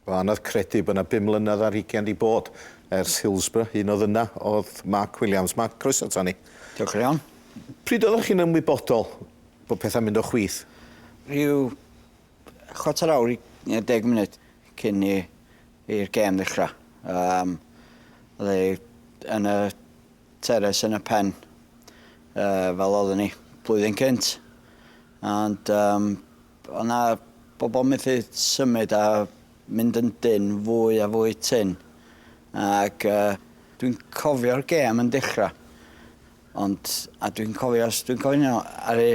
O anodd credu bod 'na bum mlynedd ar hugen 'di bod ers Hillsborough, un oedd yna oedd Mark Williams. Mark, croeso ato ni. Diolch yn iawn. Pryd oeddech chi'n ymwybodol bod pethau'n mynd o chwith? Rhyw chwarter awr i eh, deg munud cyn i i'r gêm ddechrau. Um, oedd e yn y Teres yn y pen yy fel oedden ni blwyddyn cynt ond yym o' 'na bobol methu symud a mynd yn dynn fwy a fwy tynn ag yy dwi'n cofio'r gêm yn dechra ond a dwi'n cofio os dwi'n cofio'n iawn aru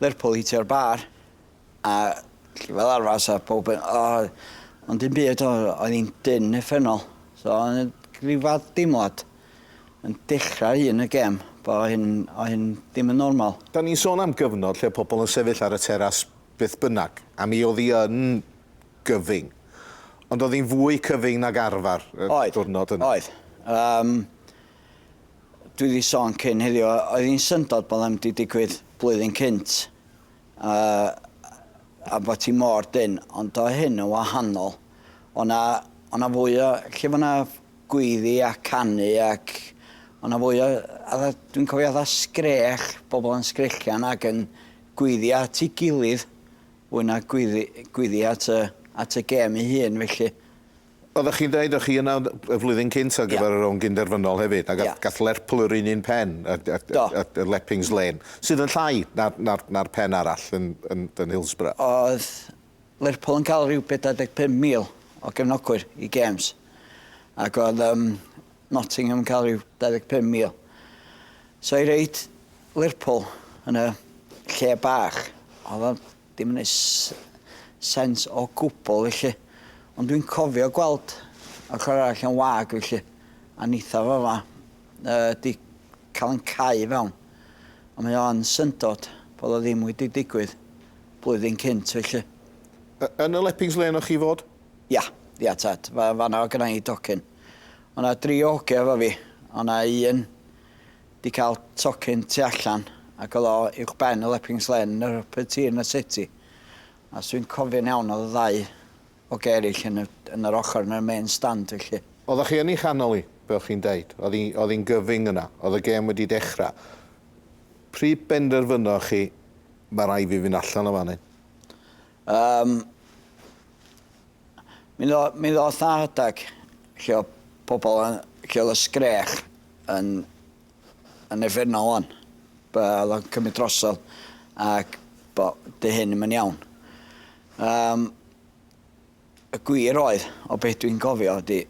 Lerpwl hitio'r bar A fel arfar 'sa powb yn o ond dim byd o- oedd 'i'n dyn uffernol so o' 'na ryw fath deimlad yn dechra un y gêm bo' hyn o' hyn dim yn normal. 'Dan ni'n sôn am gyfnod lle o' pobol yn sefyll ar y teras beth bynnag, a mi o'dd 'i yn gyfyng. Ond o'dd 'i'n fwy cyfyng nag arfar y... Oedd. ...diwrnod yna. Oedd. Yym dwi 'di sôn cyn heddiw o- oedd 'i'n syndod bo' 'na ddim 'di digwydd blwyddyn cynt A, a bod ti mor dynn. Ond oedd hyn yn wahanol. Oedd 'na, oedd 'na fwy o, lle bod 'na gweiddi a canu ac oedd 'na fwy o, fatha, dwi'n cofio fatha sgrech, bobl yn sgrechian ac yn gweiddi at ei gilydd fwy na gweiddi, gweiddi at y, at y gêm ei hun felly. Oeddech chi'n dweud o'ch chi yna y flwyddyn cynt ar gyfer yr Ogyn Derfynol hefyd, a gath Lerpwl yr un un pen, y Leppings Lane, sydd yn llai na'r pen arall yn Hillsborough. Oedd Lerpwl yn cael rhyw 45,000 o gefnogwyr i gêms, ac oedd Nottingham yn cael rhyw 25,000. So i roid Lerpwl yn y lle bach, oedd o'n Dim yn neud sense o gwbwl felly. Ond dwi'n cofio gweld ochor arall yn wag felly. A neitha fo fa yy 'di ca'l yn cau i fewn. Ond mae o yn syndod bod o ddim wedi digwydd blwyddyn cynt felly. Y- yn y Leppings Lane o' chi fod? Ia, ia tad. Fa- fan'na o' gynna i docyn. O' 'na dri o hogia efo fi. O' 'na un 'di cael tocyn tu allan ac oedd o uwch ben y Leppings Lane yn yr Upper Tier yn y City a os dwi'n cofio'n iawn oedd y ddau o gerrill yn y yn yr ochr yn y main stand felly. Oeddech chi yn ei chanol hi, fel chi'n deud. Oedd hi oedd hi'n gyfyng yna. Oedd y gêm wedi dechrau. Pryd benderfynoch chi, 'ma raid fi fynd allan o fan hyn'? Yym, mi ddo- mi ddoth 'na rhedeg lle o' pobol yn lle o'dd y sgrech yn yn uffernol ŵan. Be' o'dd o'n cymyd drosodd ac bo' 'di hyn 'im yn iawn. Yym, y gwir oedd, o be' dwi'n cofio ydi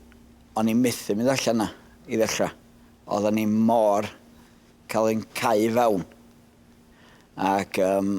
o'n i methu mynd allan 'na i ddechra. Oddan ni mor ca'l ein cau fewn ac yym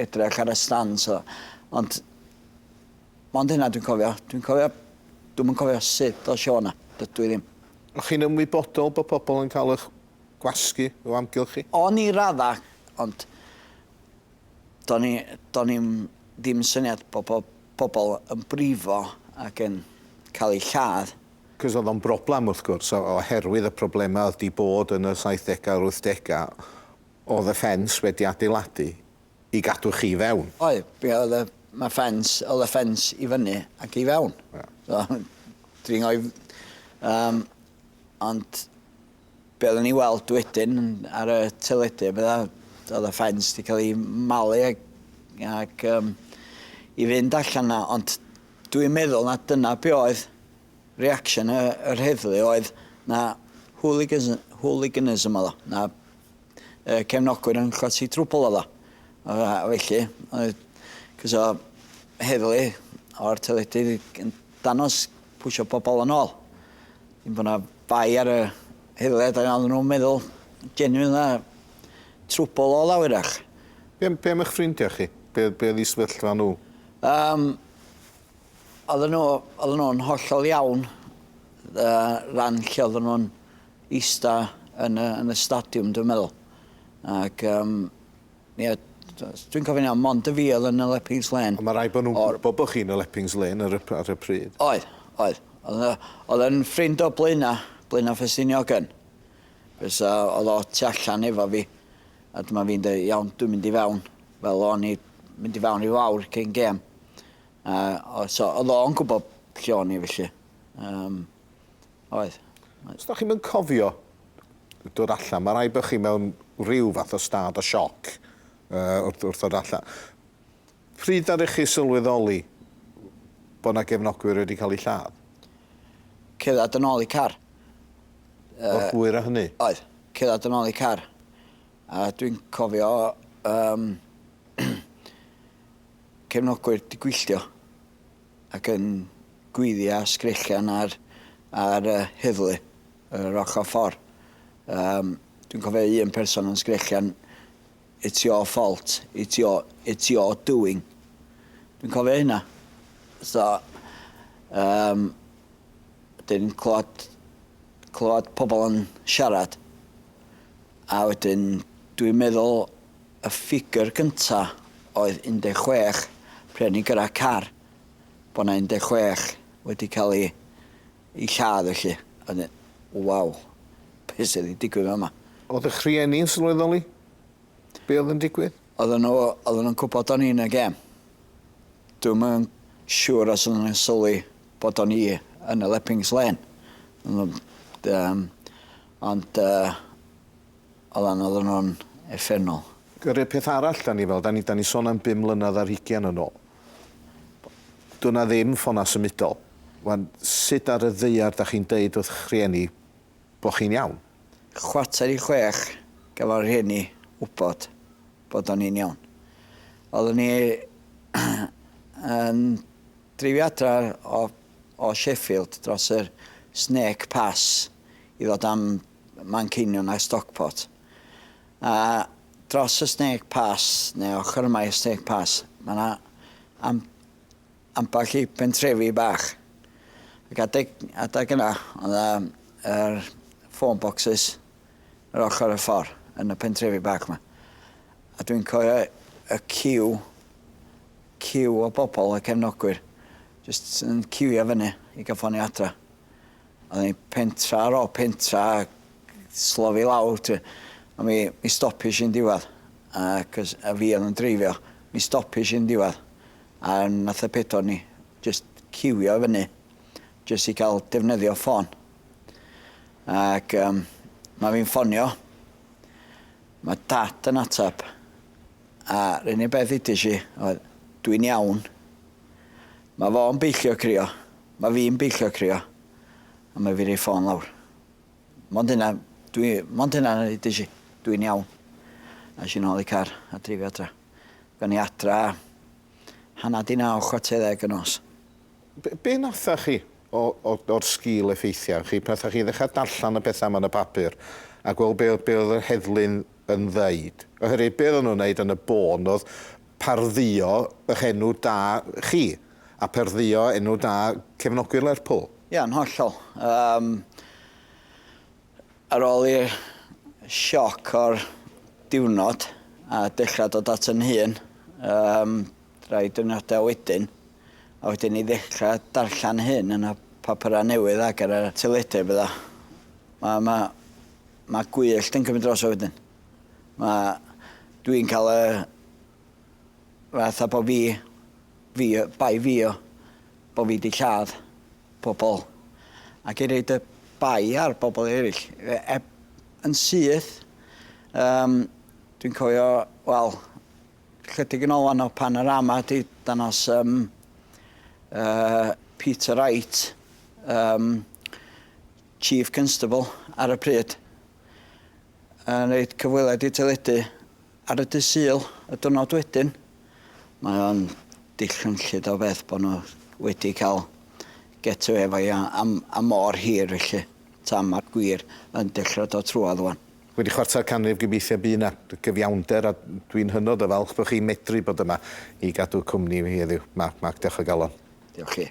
edrych ar y stands o ond mond hynna dwi'n cofio. Dwi'n cofio dwi'm yn cofio sut ddosh i o 'na. Dydw i ddim. O'ch chi'n ymwybodol bod pobl yn cael eich gwasgu o amgylch chi? O'n i raddau ond do'n i do'n i'm ddim syniad bod po- pobl yn brifo ac yn cael eu lladd. Cos oedd o'n broblem wrth gwrs o- oherwydd y problemau oedd 'di bod yn y saithdegau a'r wythdegau Oedd y ffens wedi adeiladu i gadw chi i fewn? Oedd, be oedd y... Mae ffens, oedd y ffens i fyny ac i fewn. Ie. So, dringo i... Yym, ond be oedden ni'n weld wedyn ar y teledu a petha, oedd y ffens wedi cael ei malu ac, ac um, i fynd allan na, ond dwi'n meddwl na dyna be oedd reaction y, yr heddlu oedd na hooligans, hooliganism oedd o, na y cefnogwyr yn chwythu trwbl oedd o. Yy a felly oedd cys o heddlu o'r teledu yn danos pwysio pobl yn ôl. Yn bod 'na bai ar y heddlu a oedden nhw'n meddwl genuine na trwbl oedd o wyrach. Be am be am eich ffrindiau chi? Be be oedd eu sefyllfa nhw? Yym oedden nhw oedden nhw'n hollol iawn yy ran lle oedden nhw'n ista yn y yn y stadiwm dwi'n meddwl ac yym ie d- os dwi'n cofio'n iawn mond y fi oedd yn y Leppings Lane. Ond ma' raid bo' nhw'n gwbo bo' chi yn y Leppings Lane ar y p- ar y pryd. Oedd oedd. O'dd yy o'dd yn ffrind o Blaena' Blaena' Ffestiniog yn. Cos yy o'dd o tu allan efo fi a dyma fi'n deu' iawn dwi'n mynd i fewn fel o'n i mynd i fewn i fawr cyn gêm a o so o'dd o'n gwbo lle o'n i felly yym. Oedd. Os da chi'm yn cofio dod allan, mae rhaid bod chi mewn rhyw fath o stad o sioc uh, wrth, wrth ddod allan. Pryd ddari chi sylweddoli bod yna gefnogwyr wedi cael eu lladd? Cerdded yn ôl i car. Uh, O'r hwyr a hynny? Oedd, cerdded yn ôl i car. A dwi'n cofio um, cefnogwyr di gwylltio. ac yn gweiddia sgrechian ar ar y heddlu yr ochor ffor. Yym dwi'n cofio un person yn sgrechian it's your fault it's your it's your doing. Dwi'n cofio hynna. So yym dwi'n clywed clywed pobl yn siarad a wedyn dwi'n meddwl Y ffigur gynta oedd 16 brenin gyda car, bod 'na 16 wedi cael eu eu lladd felly, a 'dyn, waw, be' sy' 'di digwydd fama? O'dd ych rhieni'n sylweddoli be' o'dd yn digwydd? Oddan nhw oddan nhw'n gwbod o'n i yn y gêm. Dwi'm yn siŵr os oddan nhw'n sylwi bod o'n i yn y Leppings Lane. Ond yym ond yy Oedd anodd yn o'n effennol. Yr un peth arall 'da ni fel, 'da ni 'da ni son am bum mlynedd ar hugian yn ôl. Do' 'na ddim ffona symudol. Wan, sud ar y ddaear 'da chi'n deud wrth 'ych rhieni bo' chi'n iawn? Chwarter i chwech gafo' rhieni wbod bod o'n i'n iawn. Oeddwn ni yn dreifio adra o o Sheffield dros yr Snake Pass i ddod am Manceinion a Stockport. A dros y Snake Pass, neu ochr yma i'r Snake Pass, mae yna am, ambell i bentrefi bach. Ac adeg, adeg yna, oedd yna er, phone boxes yr ochr y ffordd yn y pentrefi bach yma. A dwi'n cofio y ciw, ciw o bobl, y cefnogwyr, jyst yn ciwio fyny i gael ffonio adra. O'n i'n pentra ar ôl pentra ac slofi lawr ti. A mi mi stopish i'n diwadd a cys a fi o'dd yn dreifio mi stopish i'n diwadd a nath y pedwar ni jyst ciwio i fyny jyst i ca'l defnyddio ffôn. Ac yym ma' fi'n ffonio ma' dad yn atab a r'un un beth udish i oedd dwi'n iawn. Ma' fo'n beillio crio Mae fi'n beillio crio a mae fi roi ffôn lawr. Mond hynna, dwi, mond hynna na i dysi. Dwi'n iawn. A eisiau nôl i car a dreifio adra. Gawn ni adra hanner di naw, chwarter ddeg y nos. Be, be natha chi o, o, o'r sgil effeithiau chi pan natha chi ddechrau darllen y pethau yma yn y papur a gweld be, be oedd yr heddlu'n yn ddeud? Oherwydd be oedden nhw'n wneud yn y bôn oedd pardduo eich enw da chi. a perddio enw da cefnogwyr Lerpwl. Ia, yn hollol. Yym, ar ôl i'r sioc o'r diwrnod, a dechra dod at yn hun, yym, rai diwrnoda wedyn, a wedyn i ddechra darllen hyn yn y papura newydd ac ar y teledu a betha, ma' ma' ma' gwyllt yn cymryd drosodd wedyn. Ma', dwi'n ca'l y Fatha bo fi fi yy bai fi o bo fi 'di lladd pobol ac i roid y bai ar bobol eryll yy eb yn syth yym dwi'n cofio wel chydig yn ôl wan o Panerama 'di danos yym yy Peter Wright yym chief constable ar y pryd yn roid cyfweliad i teledu Ar y dydd Sul, y diwrnod wedyn, mae o'n dillynllyd o beth bod nhw wedi cael get away efo hi am, am mor hir felly, tan mae'r gwir yn dechra dod trwad ŵan. Wedi chwarter canrif gobeithio bu 'na gyfiawnder a dwi'n hynod o falch bod chi'n medru bod yma i gadw cwmni i fi heddiw. Mark, Mark, diolch o galon. Diolch chi.